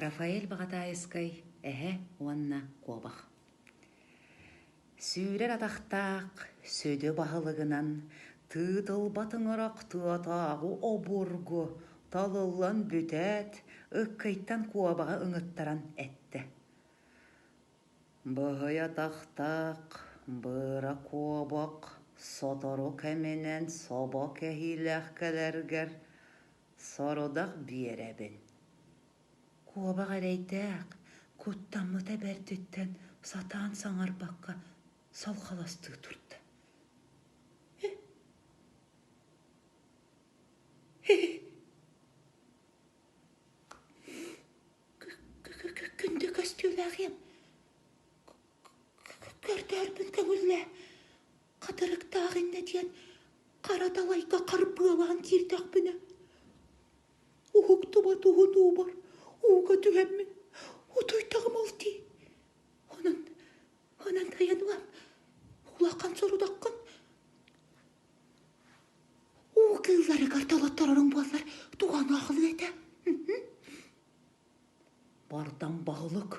Рафаэль Баҕатаайыскай эһэ уонна куобах. Сүүрэр атахтаах сөдө баһылыгынан тыытылбат ыҥырах тыатааҕы обургу талыллан бүтээт, ыккыйтан куобаҕы ыҥыттаран эттэ: «Быһый атахтаах, быра куобах сотору кэминэн собо кэһиилээх кэлэргэр Сорудах биэрэбин. Куобах эрэйдээх, куттаммыта бэрдиттэн сатаан саҥарбакка салхаластыы турда. Күндү көстүүлээх им көрдөөрбүн көҥүллээ Хатырыктаах иннэ диэн хара далайга харбыалаан киирдэхпинэ уһуктубат уһун уубар ууга түһэммин утуйдаҕым ол дии онон онон тайан ылан улахан сорудаххын уу кыылларыгар толоттороруҥ буоллар туһаныахлыы этэ Бардам баһылык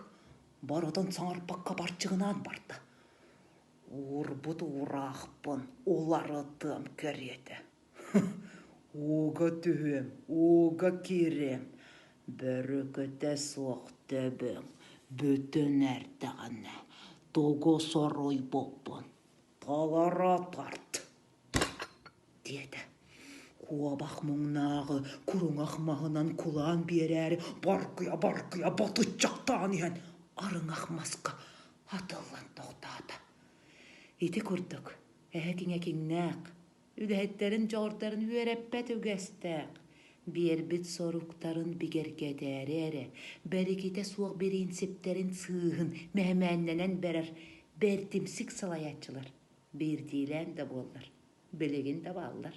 барытын саҥарбакка барчыгынаан барда. Уурбут уураахпын уларытыам кэриэтэ. Ууга түһүөм, ууга киириэм, бөрүкүтэ суох төбөҥ бүтүн эрдэҕинэ тугу суруйбуппун толоро тарт. диэтэ куобах муҥнааҕы куруҥах маһынан кулаан биэрээри баргыйа баргыйа батыччахтаан иһэн арыҥах маска атыллан тохтоото ити курдук эһэтин экиҥнээх үгэһиттэрин дьоҕурдарын үөрэппэт үгэстээх биэрбит соруктарын бигэргэтээри эрэ бэрикитэ суох бириинсиптэрин сыыһын мэһэмээннэнэн барар бэрдимсик салайааччылар Биирдиилээн да буоллар, билигин да бааллар